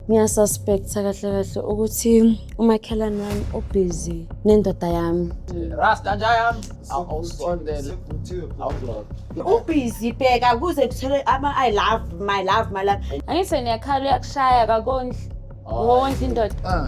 ngiyasuspecta kahle kahle ukuthi umakhelwane wami ubhizi nendoda yami rasta nja yami awusondele ubhizi bheka kuze kuthole ama-i love my love my love angithi niyakhala uyakushaya kakondli wondla indoda ah.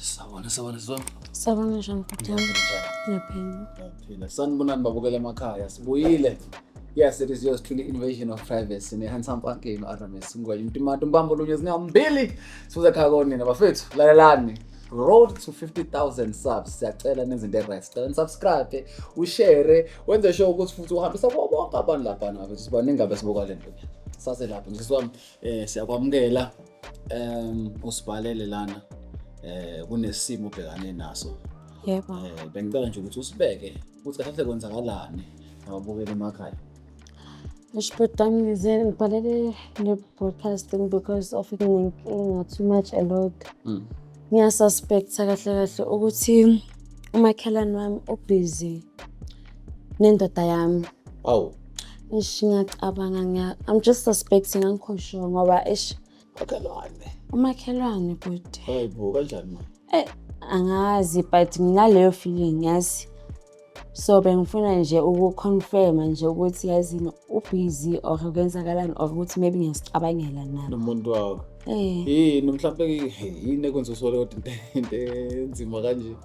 Sawona sawona zona. Sawona njani bhuti wami? Ngiyaphila. Ngiyaphila. Sanibonani babukela emakhaya. Sibuyile. Yes, it is yours truly invasion of privacy ne handsome funky no RMS ngwaye mtimatu mbambo lunye zingambili sibuza khaya konina bafethu lalelani road to 50000 subs siyacela nenze into right sicela subscribe ushare wenze sure ukuthi futhi uhambisa kubo bonke abantu lapha nabo sibaningi abe sibuka le nto sase lapho ngiswami eh siyakwamukela Um usibhalele lana eh kunesimo ubhekane naso. Yebo. Eh bengicela nje ukuthi usibeke ukuthi kahle kwenzakalani ngabukela emakhaya. Ngishoda ngize ngibhalele ne-broadcasting because of ingathi too much a lot. Mm. Ngiyasuspecta kahle kahle ukuthi umakhelwane wami ubhizi nendoda yami. Awu. Ish ngiyacabanga ngiya I'm just suspecting angikho sure ngoba ish makhelwane. Umakhelwane bhuti. Hayibo kanjani manje? Eh angazi but nginaleyo feeling yazi. so bengifuna nje ukuconfirma nje ukuthi yazini ubhizi or kwenzakalani or ukuthi maybe ngiyasicabangela na nomuntu wakho eh. yini mhlawumpe yini ekwenza usole kodwa into enzima kanje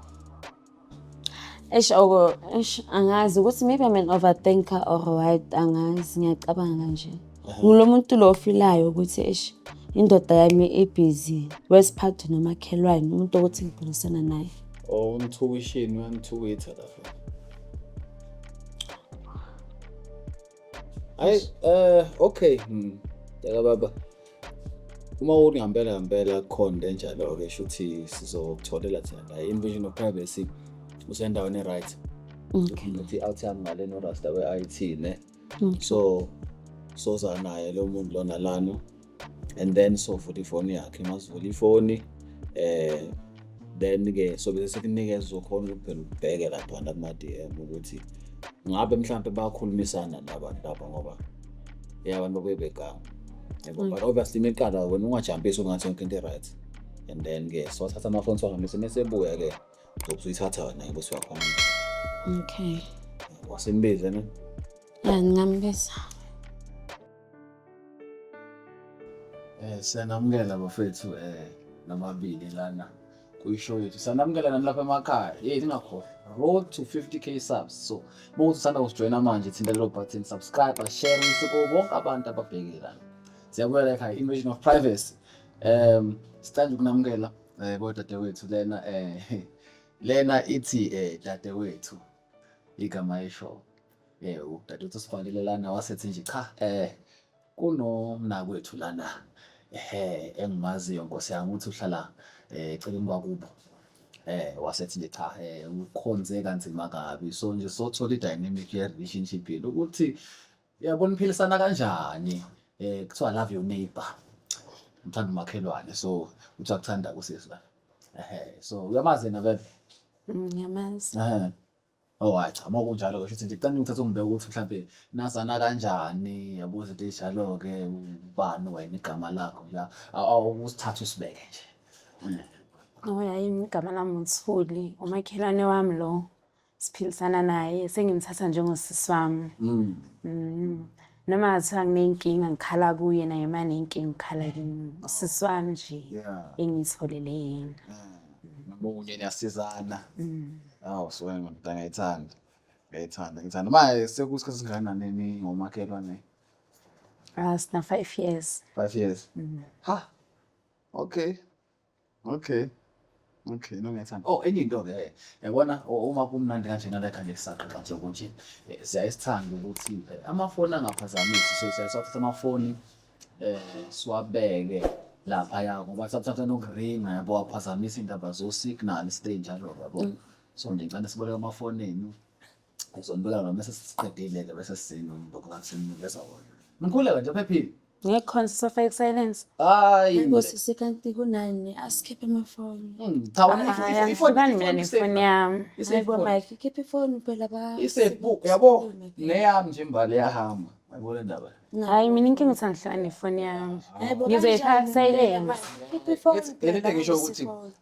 eish oko eish angazi ukuthi maybe i'm an overthinker or what angazi ngiyacabanga nje ngulo muntu lo ofilayo ukuthi eish indoda yami ibhizi wesiphathi nomakhelwane umuntu okuthi ngibhilisana naye or umthukishini uyamthukitha lapho hayi eh okay hmm. yaka baba uma uthi ngampela ngampela kukhona into enjalo-ke sho ukuthi sizokutholela thina la invasion of privacy usendaweni e-right ukuthi i-out yami ngale norasta we-i t ne mm. so soza naye lo muntu lona lana and then sovula ifoni yakhe masivula ifoni eh then-ke sobe sesikunikeza uzokhona ukuthi phela ubheke laphana kuma-d m ukuthi ngabe mhlawumpe bayakhulumisana nabantu lapha ngoba ya abantu babuye begama yabo mm. but obviously uma iqala wena ungajampisi ungathi yonke into i-right and then-ke siwathatha amafoni siwahambise uma sebuya-ke ngoba uzoyithatha wena yebo siwakhona okay wasembiza ne ya ngingambiza eh siyanamukela bafethu eh namabili lana kuyishow yethu sanamukela nani lapha emakhaya yey ningakhohlwa road to 50k subs so uma uthi usanda kusijoyina manje thinta lelo button subscribe share isiko bonke abantu ababheke lana siyabuyela ekhaya invasion of privacy um sithanda ukunamukela Eh kodwa dadewethu lena eh lena ithi eh dadewethu igama esho eh udadewethu sibhalile lana wasethi nje cha eh kunomnakwethu lana ehe engimaziyo nkosi yami ukuthi uhlala eh eceleni kwakubo eh wasethi nje cha eh ukhonze kanzima kabi so nje sothola i-dynamic ye-relationship yenu ukuthi Yebo niphilisana kanjani? Eh kuthiwa love your neighbor. Ngithanda umakhelwane so uthi akuthanda kusisi la. Ehhe so uyamazi yena vele. Ngiyamazi. Ehhe. Oh hayi cha uma kunjalo kusho ukuthi nje cela ngithathe umbheke ukuthi mhlampe nazana kanjani yabo izinto ezinjalo ke ubani wena igama lakho la awusithathe usibeke nje. Ngoba yayimi igama lami uThuli, umakhelwane wami lo. siphilisana naye sengimthatha njengosisi wami mm. mm. noma ngathiwa nginenkinga ngikhala kuye naye uma nenkinga ngikhala kimi usisi wami nje engiyitholele yena ngamunye niyasizana mm. awu suke ngimdala ngayithanda ngayithanda ngithanda uma sekusikhathi singakanani ningomakhelwane ah sina five years five years mm. ha okay Okay. Okay, no ngethanda. Oh, enye into ke eh, yabona uma kumnandi kanje naletha nje kusaqaqa nje ukuthi eh, siyayisithanda ukuthi eh, amafoni angaphazamisi so siyasathatha amafoni eh siwabeke lapha ya ngoba sathatha nokuringa yabo waphazamisa indaba zo signal stage njalo yabo. Mm. So ngicela siboleke amafoni enu Ngizombuka ngami bese sesiqedile ke bese sisini umboko ngami seninikeza wona. Mkhuleka nje phephile. Ngeke khona sisafake silence. Hayi. Ngosisi kanti kunani asikhiphe amafoni. Hmm, Cha wena ifo- Hhayi, ifo- ifo- angihlukani mina ifo- nefoni yami. Ise- Hayi bo Mike, khipha ifoni phela ba. Isebhuku yabo neyami nje imbali yahamba. Yabo le ndaba. Hhayi, mina inkinga ukuthi angihlukani nefoni yami. Hayi bo, Ngizoyifaka kanjani silence. ngeke, Mike? Khipha ifoni Ngeke- ngeke phela ngisho ukuthi- bafisi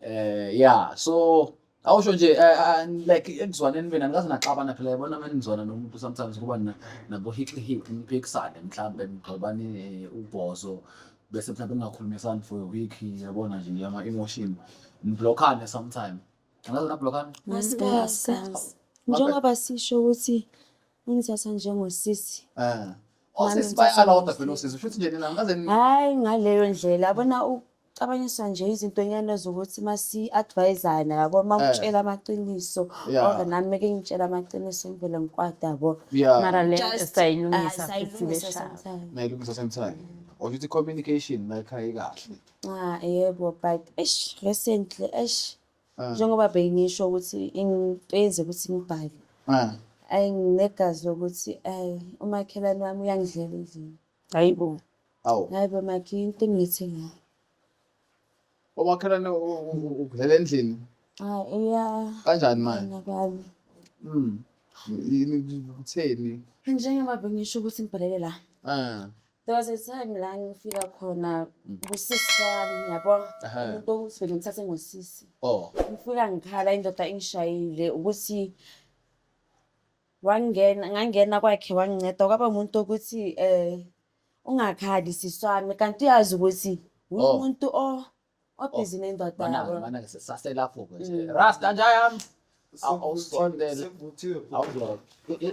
Eh yeah so awusho nje eh, eh, eh, like ekuzwaneni mina ngikaze naxabana phela yabona uma nizwana nomuntu sometimes kuba nabo hixi hixi niphikisane mhlawumbe nigxobane ubhozo bese mhlawumbe ningakhulumisani for a week yabona nje yama emotion niblockane sometime ngaze nablockane njengoba sisho ukuthi ungithatha njengosisi um osisi bayalawuda phela osisi shuthi nje nina ngaze hayi ngaleyo ndlela yabona cabanyiswa nje izintonyana zokuthi masi-advayizana yabo uma eh. utshela amaqiniso or nami meke ngitshela amaqiniso ngivele ngikwade yabo mara le sayilungisa sayilungisa sometime or ukuthi communication mayikhaye kahle ah yebo but eish recently eish ah. njengoba bengisho ukuthi into yenze ukuthi ngibhale ah. ayi nginegazi lokuthi ayi umakhelwane wami uyangidlela endlini Hayi bo. Awu. Hayi bo makhi into engithi ngayo. Omakhelwane ukudlela endlini. Ah iya. Kanjani manje? Ngakwazi. Mm. Yini kutheni? Njengoba bengisho ukuthi ngibhalele la. Ah. There was a time la ngifika khona mm. kusisi wami yabo umuntu owusivele ngithathe ngosisi. Oh. Ngifika ngikhala indoda ingishayile ukuthi Wangena ngangena kwakhe wanginceda kwaba umuntu ukuthi eh ungakhali sisi wami kanti uyazi ukuthi Oh. umuntu o obhizi nendoda Mana-ke, yabo. mana-ke, sisaselapho-ke nje. Mm. Rasta nja yami. Aw- awusondele. Awuzwa.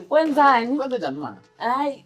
Wenzani? Kwenzenjani manje? Hayi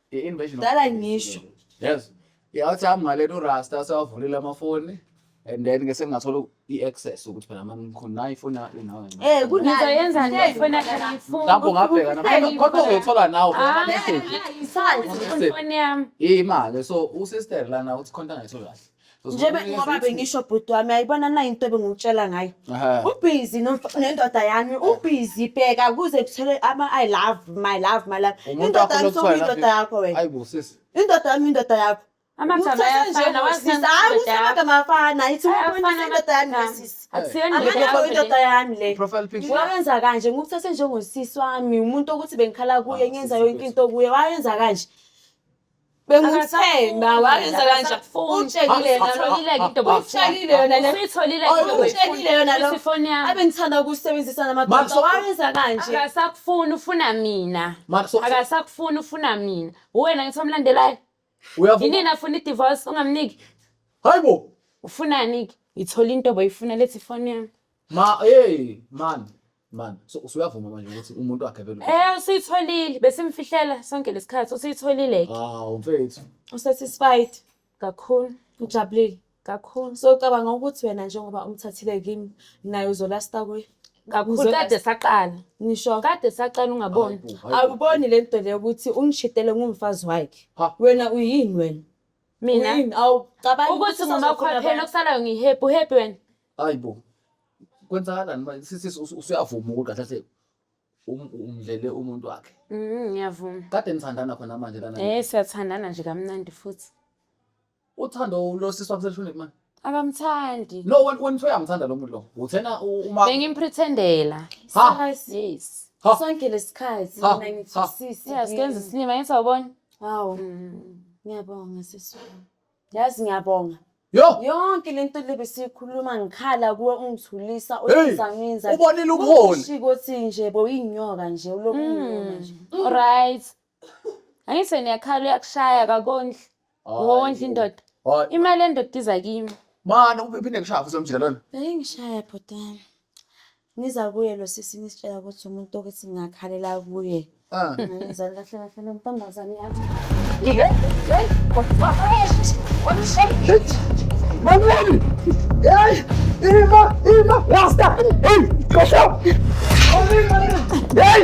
I-invasion of Dala ngisho. yes yathi hamba ngalento urasta asewavulile amafoni and then ke sengingathola i-access ukuthi phela mani ngikhona nayo ifoni yakho nawe ncane. Eh kunayo. Ngizoyenza nje Hey, ifoni yakhe ngiyifuna. mhlawumbe ungabheka na- Hey, kodwa uzoyithola nawe Ah, message. Isandla. ifoni yami. imali so usister lana uthi khonta ngayitholi kahle njengoba ngoba bengisho bhuti wami ayibona nayo into ebengikutshela ngayo ubhizi nendoda yami ubhizi bheka kuze kuthele ama-i love my love my love indoda yami sokuyindoda yakho wena indoda yami indoda yakho amagama ayafana wasisa hayi usamagama afana ithi ubonisa indoda yami nesisi amagama indoda yami le wayenza kanje ngikuthathe njengosisi wami umuntu okuthi bengikhala kuye ngenza yonke into kuye wayenza kanje bengumthemba wayenza kanje utshekile utshekile yona utshekile yona lo abe ngithanda ukusebenzisa namadoda wayenza kanje akasakufuni ufuna mina akasakufuni ufuna mina uwena ngithi omlandelayo yini nafuna i-divorce ungamniki hayibo ufunani-ke ngithola into boyifuna lethi ifoni yami ma hey man Man, so usuyavuma manje ukuthi umuntu wakhe vele. Eh usuyitholile besimfihlela sonke lesikhathi usuyitholile ke. Ah umfethu. Usatisfied kakhulu ujabulile kakhulu. So ucabanga ukuthi wena njengoba umthathile kimi naye uzolasta kuye. Kakhulu kade saqala. Ngisho kade saqala ungaboni. Awuboni le nto le ukuthi ungishitele ngumfazi wakhe. Wena uyini wena? Mina. Uyini awucabangi ukuthi ngoba khona phela okusalayo ngihappy uhappy wena. Hayibo. Kwenzakalani manje sisi usu- usuyavuma ukuthi kahle kahle um- umdlele umuntu wakhe. Mm, ngiyavuma Kade nithandana khona manje lana. eh siyathandana nje kamnandi futhi Uthando lo sisi wakho selishonile manje. akamthandi No wena wena soyamthanda lo muntu lo. Uthena u- uma bengimpretendela ha yes ha sonke lesikhathi Ha, mina ha. ngithisisi yeah sikenza isilima ngisawubona hawu ngiyabonga sisi wami. Yazi ngiyabonga. Yo. Yonke lento lebe sikhuluma ngikhala kuwe ungithulisa uyizanginza. Ubonile ubuholi. Ushiko thi nje bo inyoka nje ulokunyona nje. Mm. Alright. Angise niyakhala uyakushaya kakondli. Wondla indoda. Imali endoda iza kimi. Mana uphinde ngishaya futhi umjika lona. Bengishaya bhotana. Ngiza kuye lo sisi ngisitshela ukuthi umuntu okuthi ngingakhalela kuye. Ah. Ngizani kahle kahle lo ntombazane yami. Manuel! Hey! Irma! Irma! Rasta! Hey! Koşa! Hey!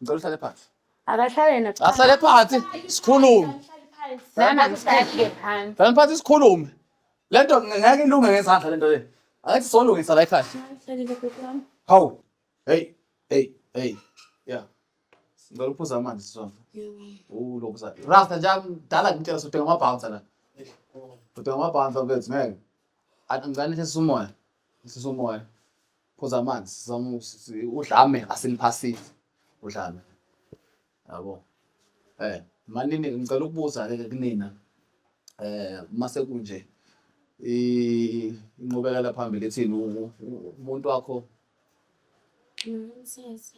Ngicela uhlale phansi. Akahlale yena. Ahlale phansi sikhulume. Nana ngihlale phansi. Hlale phansi sikhulume. Lento ngeke ilunge ngezandla lento le. Angithi solungisa la ekhaya. Hawu. Hey, hey, hey. Yeah. Ngicela uphuza amanzi sizona. Oh, lokho sa. Rasta nje mdala ngitshela sothi ngama bounce la. Sothi ngama bounce bethu ngeke. Athi ngicela nithesa umoya. Nithesa umoya. phuza amanzi sizama usi- udlame asiniphasile udlame yabo eh manini ngicela ukubuza ke kunina eh mase kunje i- inqubekela phambili ethini u- u- umuntu wakho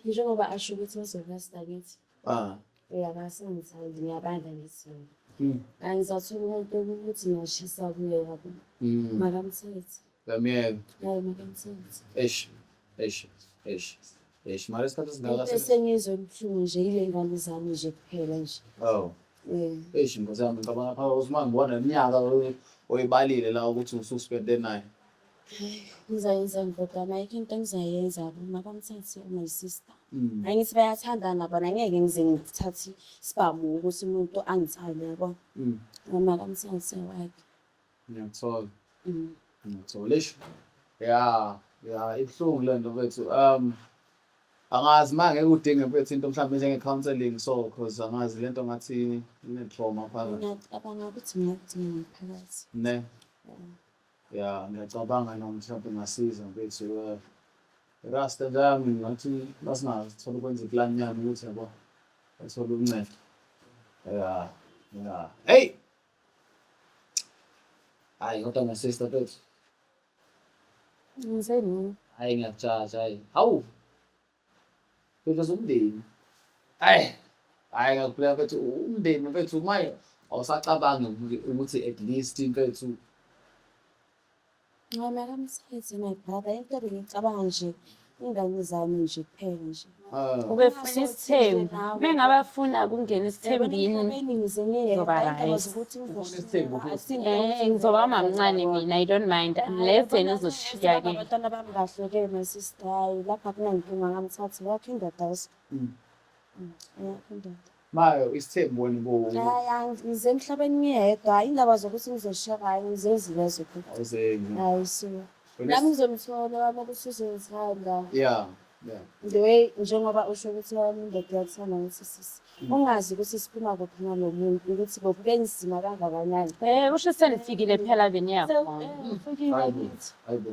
Njengoba asho ukuthi bazovesta kithi. Ah. Uyabasenzani ngiyabandla ngesimo. Mm. Angizathola umuntu ukuthi ngashisa kuye yabo. Mm. Makamthethe. Ngamyeka. Hayi makamthethe. Eish. Eish. Eish. Eish. Mara isikhathi singaka. Into esengizwe ubuhlungu nje ile ngane zami nje kuphela nje. Oh. Eh. Eish nkosi yami ngicabanga phakathi uSmanga ngibona iminyaka oyibalile la ukuthi ususpende naye. ngizayenza ndodana ayikho into engizayenza mabamthathe my sister mm. hayi ngithi bayathandana bona ngeke ngize ngithathe sibamu ukuthi umuntu angithande yabo mm. noma kamthathe wakhe ngiyathola mm. ngiyathola eish ya ya ibuhlungu le nto bethu um angazi uma ngeke udinge mfethu into mhlawumbe njenge-counseling so cause angazi le nto ngathi ine-trauma phakathi ngiyacabanga ukuthi ngiyakudinga ngaphakathi ne yeah. ya ngiyacabanga noma mhlawumbe ngasiza mfethu eh, rasta lami ngathi masingathola ukwenza iplan yani ukuthi yabo athole uncedo ya ya hey hayi kodwa ngasister mfethu ngenzeni hayi ngiyakujaja hayi hawu Because umndeni ayi hhayi ngakubuleka mfethu umndeni mfethu maye awusacabangi ukuthi at least mfethu Ngincamela umsebenzi my brother into ebengicabanga nje ingane zami nje kuphela nje ah. ubefuna isithembu bengabe afuna ukungena isithembini ngizoba mamncane mina i don't mind unless yena uzoshiya ke Hayi lapha kunankinga ngamthatha yakho indoda usi. Mm. Mm, Yakho indoda. Mayo isithembu wena bo. Hayi angi- ngize emhlabeni ngiyedwa hayi indaba zokuthi ngizoshiya hayi ngizozile ziphi. Awuzengi. Hayi so. Wena Nami ngizomthola wami ukuthi uzongithanda. Yeah. Yeah. The way njengoba usho ukuthi wami indoda iyakuthanda ukuthi sisi. Mm. Ungazi ukuthi siphuma kuphi nalo muntu ukuthi bokube nzima kangakanani. Eh usho senifikile phela beniyakhona. Hayi bo. Hayi bo.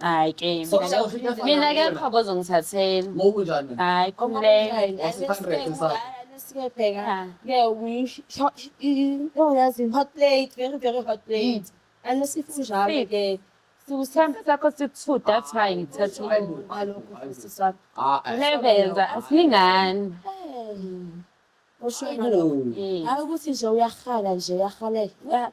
Hayi ke mina ke qhobo zongithathela. Ngokunjani? Hayi khumleka. Yazi hot plate, very very hot plate. And sifu njalo ke. Siwuthanda sakho siku-two that's why ngithatha lebenza asilingani. Usho ukuthi nje uyarhala nje uyarhalela.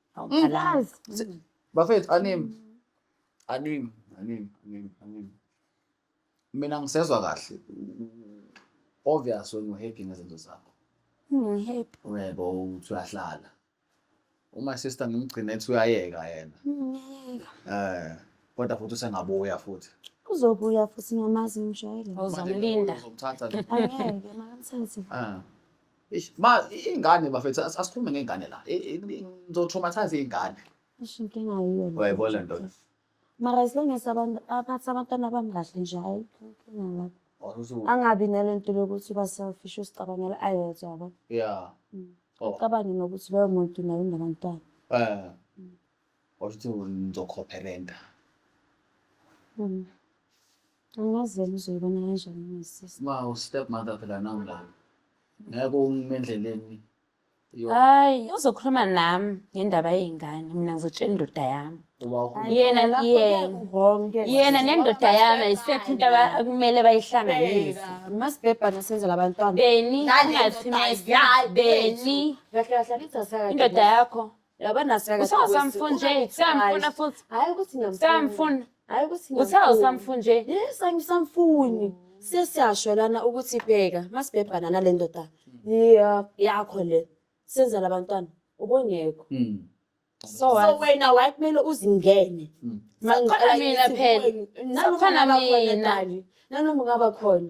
Ngikwazi. Bafethu animi. Animi, animi, animi, animi. Mina ngisezwa kahle. Obvious when you happy ngezinto zakho. Ngihappy. Uyebo uthi uyahlala. Uma sister ngimgcine ethi uyayeka yena. Ngiyayeka. Eh, kodwa futhi usengabuya futhi. Uzobuya futhi ngiyamazi ngimjwayele. Uzomlinda. Uzomthatha nje. Angeke, makamthathe. Ah. Eish, ma ingane bafethu as- asikhulume ngengane la I- i- i- ngizotraumatise ingane Isho inkinga yiyo le. Uyayibona le nto? Mara as long as abantu aphathe abantwana bami kahle nje hayi inkinga lapho. Wazuzu- Angabi nale nto lokuthi uba selfish uzicabangela ayedwa yabo. yeah Mm. Oh. Ucabange nokuthi loyo muntu naye unabantwana. eh washo ukuthi ngizokhopherenta Mm. Angazeli uzoyibona kanjani ngesisi. Ma ustep mother phela nami la. Ngeke ungime endleleni. Yo, Hayi, uzokhuluma nami ngendaba yey'ngane, mina ngizotshela indoda yami. uba ukhuluma. Yena, Lapho yena. wrong ke. Yena nendoda yami ayisekho into aba- akumele bayihlanganise. Masibhebhana senzela abantwana. Beni, Ngane ungathi indoda my- yakho, Beni, Kahle kahle angithi asaka- indoda yakho. Yabona usamfuna nje samfuna futhi hayi ukuthi ngiyamfuna hayi ukuthi uthawu samfuna nje yes angisamfuni sesiyasho lana ukuthi bheka masibhebhana nale ndoda yakho le senza labantwana ubongekho hmm. so wena waye kumele uzingene hmm. mina phela nakhona mina nanoma ungaba khona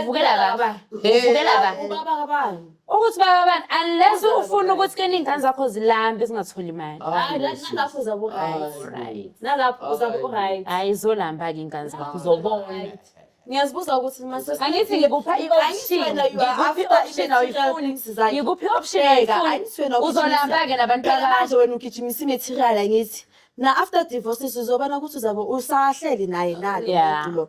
uvukela baba uvukela baba ubaba kabani ukuthi baba bani unless ufuna ukuthi ke ningane zakho zilambe zingatholi imali hayi nalapho uzabe uright nalapho uzabe uright hayi izolamba ke ingane zakho uzobona ngiyazibuza ukuthi angithi ngikupha i-optiongikuphi i-option ayifuni uzolamba-ke nabantwanamanje wena ugijimisa i-material angithi na-after divorces uzobona ukuthi uzabe usahleli naye nalo muntu lo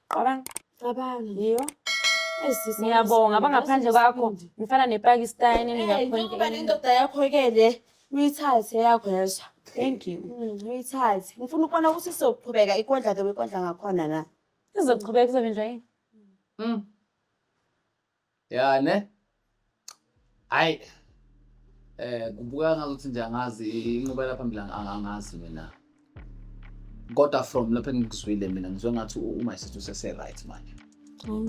Qabanga. Qabanga. Yiyo. Ngiyabonga abangaphandle kwakho ngifana nepakistani ngingakhona nendoda yakho-ke le uyithathe yakho yezwa thank you mm, uyithathe ngifuna ukubona ukuthi izoqhubeka ikondla ke wekondla ngakhona na izoqhubeka izobenjwa yini mm. ya ne hayi eh kubukeka ngazuthi nje angazi inqubela phambili angazi mina kodwa from lapho engikuzwile mina ngizwe ngathi uma isithu sese right manje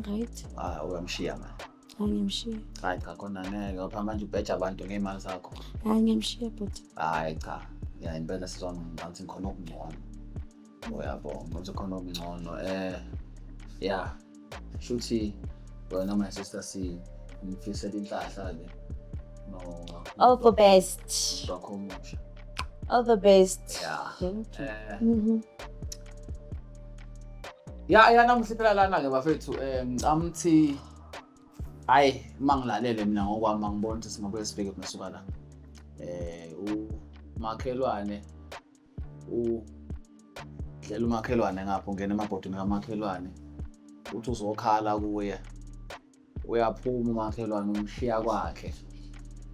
right ah uyamshiya manje angimshiya hayi cha khona ngeke ngapha manje ubheja abantu ngeimali zakho hayi ngimshiya bhuti hayi cha ya impela sizona ngathi ngikhona okungcono uyabonga manje khona okungcono eh ya shuthi wena my sister si ngifisela inhlahla ke no all the best wakho omusha all the best ya eh mhm. ya ya namuhliphela lana ke bafethu eh ngicama ukuthi hayi uma ngilalele mina ngokwami angiboni ukuthi singabuye sibheke kunesuka la eh umakhelwane udlela umakhelwane ngapha ungena emabhodini kamakhelwane uthi uzokhala kuye uyaphuma umakhelwane umshiya kwakhe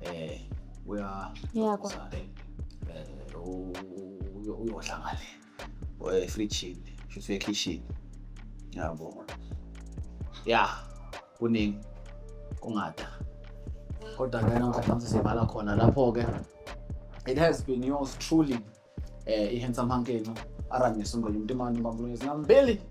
eh uya uyakwakhe uyodla ngale efrijini shuthi ekhishini yabo ya kuningi kungada kodwa ke namhlanje sesibhala khona lapho ke it has been yours truly eh i-handsome hankeno arangisa ungwele umuntu imani ubambulungezi ngambili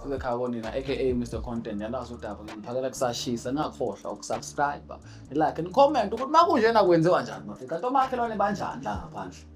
sizekhaya konina aka mr content yalazi udaba ngiphakela kusashisa ningakhohlwa ukusubscribe nilike nicomment ukuthi uma kunjena kwenziwa njani mafica nto makhelwane banjani la ngaphandle